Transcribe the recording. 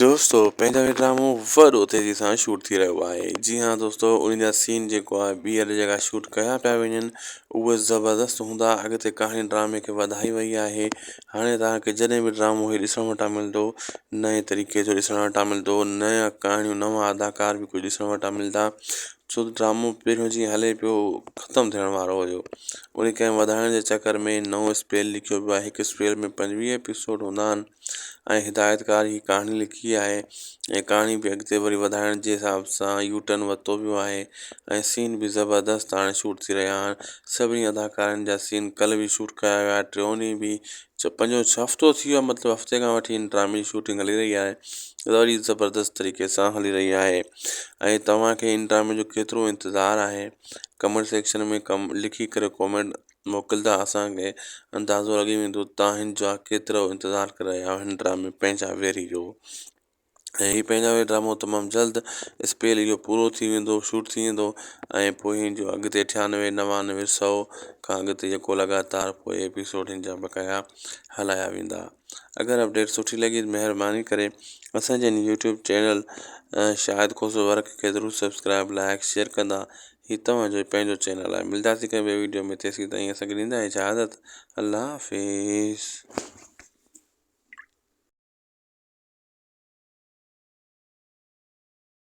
دوستو پنهنجو هي ڊرامو وڏو تيزي سان شوٽ ٿي رهيو آهي جي ها دوستو انهي جا سين جيڪو آهي ٻيهر جيڪا شوٽ ڪيا پيا وڃن اهي زبردست هوندا اڳتي ڪهاڻي ڊرامي کي وڌائي وئي آهي هاڻي توهان کي جڏهن به ڊرامو هي ڏسڻ وٽان ملندو نئين طريقي جو ڏسڻ وٽان ملندو نيا ڪهاڻيون نوان اداڪار به ڪجهه ڏسڻ وٽان ملدا ڇو ته ڊرامو پهريون جيئن هلي پيو ختم ٿيڻ وارو هيو انهي کي وڌائڻ جي چڪر ۾ نئون اسپيل لکيو ويو آهي هڪ اسپيل ۾ پنجويهه ايپيسوڊ هوندا آهن ۽ هدايتڪار هي ڪهاڻي لکي آهي ۽ ڪهاڻي به اڳتي وري وڌائڻ جي حساب سان يو ٽرن ورتو ويو آهي ۽ سين به زبردست هاڻي شوٽ ٿي رهيا آهن سڀني اداڪارن جا سين ڪلهه به شوٽ ڪرايا ويا ٽيون ڏينهن به چؤ پنجون ڇهه هفتو ٿي ويو آهي مطلب هفتي کان وٺي هن ڊرامي جي شوٽنگ هلي رهي آهي وري زبردست طريقي سان هلي رهي آهي ۽ توهان کي هن ڊرامي جو ڪيترو انتظار آهي ڪمينٽ سيڪشن ۾ ڪم لکي ڪري ڪمينٽ موڪلدا اسان کي اندازو لڳي ويندو ته هن جا ڪيترو انتظار ڪري رهيا هيا هن ڊرامي پنهنجا ويري جو ۽ هي پنهنجا ويري ڊرامو تمام جلد اسپيل اهو پورو ٿي ويندو شوٽ ٿي ويندو ۽ پوء هن جو اڳتي ٺيانوي نوانوي سئو کان اڳتي جيڪو لڳاتار پوء ايپيسوڊ هن جا بقايا هلايا ويندا. اگر اپڊيٽ سٺي لڳي ته مهرباني ڪري اسان جي هن YouTube channel Shahid Khoso work کي ضرور سبسڪرائب لائق شيئر ڪندا هي توهان جو پنهنجو چينل آهي ملداسي ڪنهن ٻي ويڊيو ۾ تيسين تائين اسان کي ڏيندا اجازت الله حافظ.